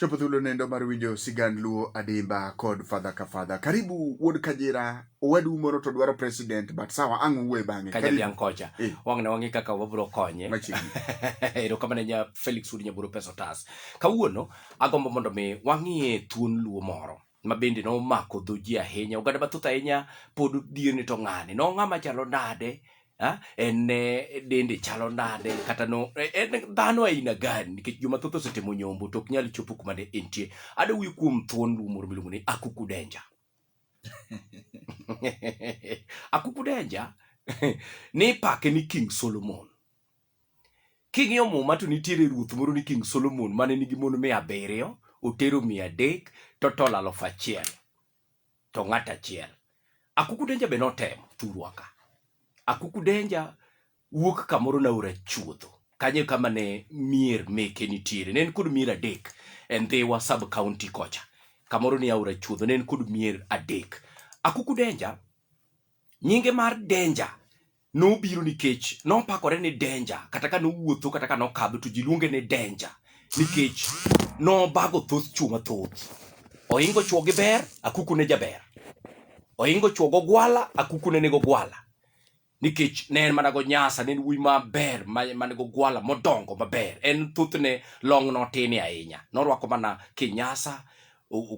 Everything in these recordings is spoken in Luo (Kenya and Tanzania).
Chopo thuolo nendo mar winjo sigand Luo Adimba kod fadha ka fadha. Karibu wuod Kajira, owadu moro to dwaro president but sawa ang' uwe bang'e. Kaja dhiang' kocha. Eh. Wang' ne wang'e kaka wabro konye. Machiegni. Erokamano nya Felix Udi Nyaburo Pesa Otas. Kawuono agombo mondo mi wang'ie thuon Luo moro. ma bende nomako dho ji ahinya. Oganda mathoth ahinya pod dhiyo ni to ng'ani no ng'ama chalo nade Ah, en eh, dende chalo nade kata no eh, en dhano aina gani nikech joma thoth osetemo nyombo to ok nyal chopo kuma ne entie ade wuyo kuom thuon luo moro miluongo ni akuku denja akuku denja ni pake ni king solomon King'iyo muma to nitiere ruoth moro ni King Solomon mane nigi mon mia abiriyo, otero mia adek, to tol alufu achiel, to ng'at achiel. Akuku Denja be notemo thurwa ka. Akuku Denja wuok kamoro naora chuodho. Kanyo kama ne mier meke nitiere. Ne en kod mier adek e Ndhiwa sub county kocha. Kamoro ni aora chuodho ne en kod mier adek. Akuku Denja nyinge mar Denja nobiro nikech nopakore ni denja kata ka nowuotho kata ka nokadho to ji luonge ni denja nikech nobago thoth chuo mathoth oingo chuo gi ber akuku ne jaber oingo chuo go gwala akuku ne nigo gwala nikech ne en mana go nyasa ne en wuoyi maber mane go gwala modongo maber en thothne long notini ahinya norwako mana kinyasa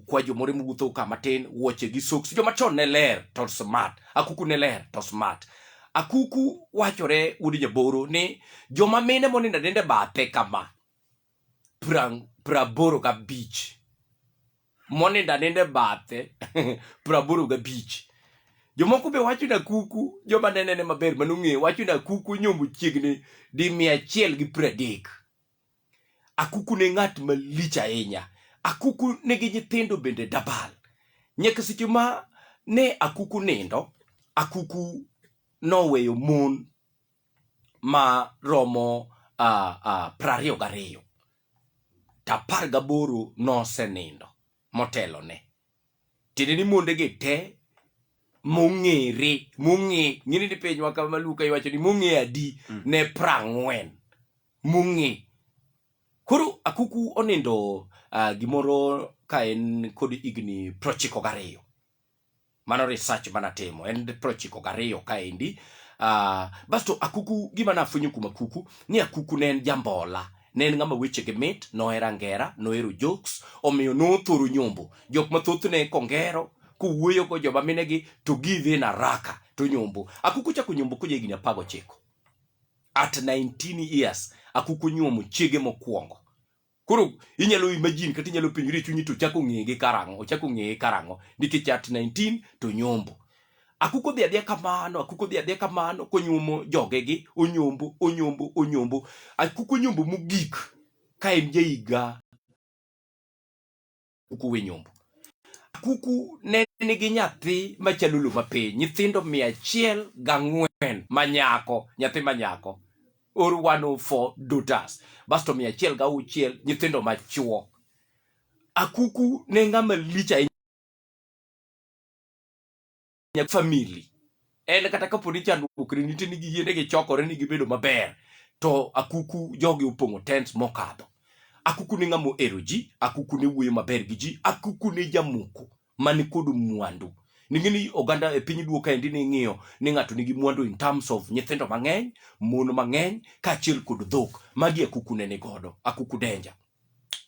kwa jomore mowuotho ka matin wuoche gi soks joma chon ne ler to smart akuku ne ler to smart akuku wachore wuod jaboro ni joma mine monindo adende bathe kama praboro ga beach monindo aninde bathe praboro ga beach jomoko be wacho na kuku joma nenene maber manong'eyo wacho na kuku nyombo chiegni di mia achiel gi pradek Akuku ne ng'at malich ahinya. Akuku nigi nyithindo bende dabal. Nyaka seche ma ne Akuku nindo, Akuku noweyo mon ma romo uh, uh, prariyo gariyo to apar gaboro nosenindo motelo ne tiende ni mondegi te mong'ere mong'e ng'ini ni pinywa kama Luka iwacho ni mong'e adi mm. ne prang'wen mung'e. Koro akuku onindo uh, gimoro ka en kod higni prochiko gariyo. Mano research manatimo, en prochiko gariyo kaendi. Uh, ah, basto akuku, gima nafwenyo kuom akuku, ni akuku ne en jambola. Ne en ng'ama wechege mit, nohero angera, nohero jokes, omiyo nothoro nyombo. Jok mathoth ne kongero, kowuoyo go joma minegi to give in araka to nyombo akuku chako nyombo koja higni apago chiko at 19 years akuku nyuomo chiege mokwongo koro inyalo imagine kata inyalo penjori e chunyi to chako ng'eye gi karang'o ochako ng'eye karang'o nikech at 19 to nyombo akuko dhi adhiya kamano akuko dhi adhiya kamano konyuomo jogegi onyombo onyombo onyombo akuko nyombo mogik ka en jahiga kuku we nyombo kuku ne nigi nyathi machalo luma piny nyithindo mia achiel gang'wen manyako nyathi manyako or 104 dutas basto mia achiel gauchiel nyithindo machuo akuku ne ng'ama lich ahinya ahinya famili en kata kapo ni chandruok ne nitie ni giyie ne gichokore ni gibedo maber to akuku jogi opong'o tents mokadho akuku ne ng'ama ohero ji akuku ne wuoyo maber gi ji akuku ne jamoko man kod mwandu ning'e ni oganda e piny duo kaendi ni ing'iyo ni ng'ato nigi mwandu in terms of nyithindo mang'eny mon mang'eny kaachiel kod dhok magi akuku ne ni godo akuku denja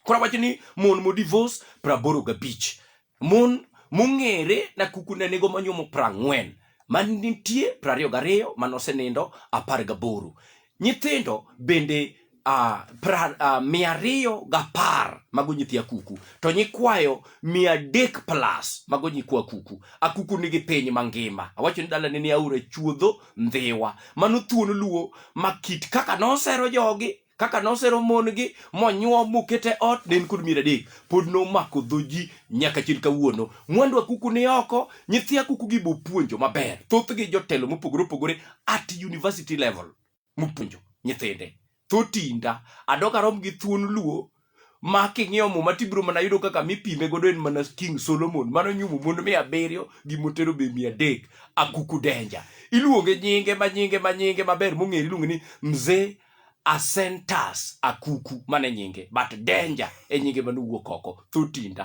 Koro wacho ni mon mo divorce praboro gabich. Mon mong'ere na kuku ne nigo manyuomo prang'wen. Man nitie prariyo gariyo manosenindo apar gaboro. Nyithindo bende uh, pra, uh, mia ariyo gapar mago nyithi akuku to nyikwayo mia adek plus mago nyikwa akuku akuku nigi piny mangima awacho ni dalane ni aora chuodho ndhiwa mano thuon luo ma kit kaka nosero jogi kaka nosero mon-gi monyuo mokete ot ne en kod mier adek pod nomako dho ji nyaka chil kawuono mwandu akuku ni oko nyithi akuku gi bopuonjo maber thothgi jotelo mopogore opogore at university level mopuonjo nyithinde thotinda adogarom gi thuon luo ma king'iyo muma tibiro mana yudo kaka mipime godo en mana king solomon mano nyumo mon mia abiriyo gi motero be mia adek akuku denja iluonge nyinge ma nyinge ma nyinge maber mong'ere iluonge ni mzee asentas akuku mane nyinge but denja e nyinge manowuok oko thotinda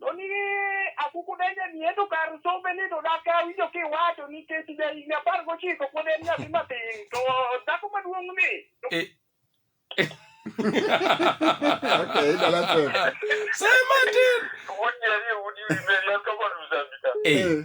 To ni akuku donjo ni ento kar sombe ni to dak awinjo kiwacho nikech ja higni apar gochiko pod en nyathi matin to dhako maduong' ni to Eh, Okay, dala tep. Say Martin. Wonyeri udi wiberi an kama nuzambika. eh,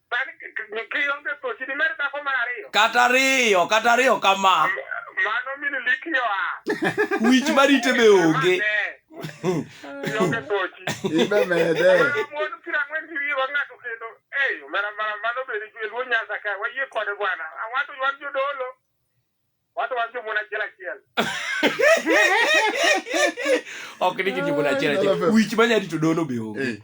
kata ariyo kata ariyo kama wich marite be onge ok ni kijimona achiel achiel wich manyarito dono be onge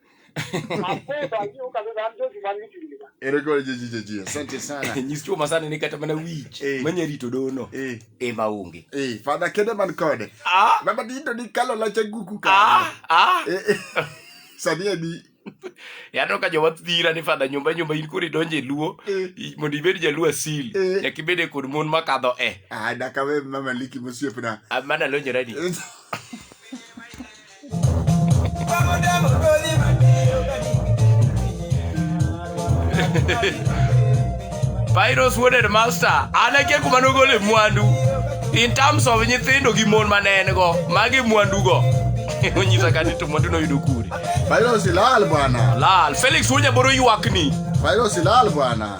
asante sana nyis chuma sana ni kata mana wich eh. manya rito dono eh. e maonge eh, fadha kede man kode ah. baba dindo ni kalo lacha guku ka ah. ah. eh, eh. sanie ni yaneno ka jowa dhira ni fadha nyumba nyumba in koro idonjo e luo eh. mondo ibed jaluo asil eh. nyaka ibede kod mon makadho e ah, dakawe mamaliki mosiepna ah, mana lonyorani Pyros wuod headmaster an akia kuma nogole mwandu in terms of nyithindo gi mon ma ne en go magi mwandugo onyisa ka ni to mwandu noyudo kure Virus ilal bwana. lal felix wuod nyaboro ywakni Virus ilal bwana.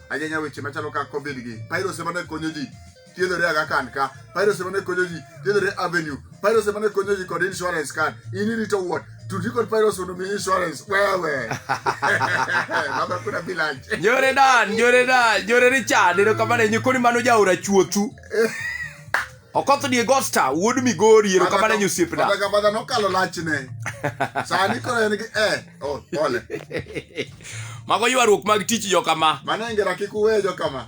ahinya weche machalo kaka covid gi pairos ema ne konyo ji thiedhore aga kan ka pairos ema ne konyo ji thiedhore avenue pairos ema ne konyo ji kod insurance card in irito wuot tudi kod pairos mondo mi insurance wewe baba kuna bilance Njore Dan, Njore Dan, Njore Richard, erokamano ahinya koni mano jaora chuothu. Okoth die Gosta wuod Migori ero kamano enyo osiepna. Baba gabadha nokalo lachne. Sani koro en gi eh oh pole. Mago ywaruok mag tich jo kama. Mano ngera kik uwe jo kama.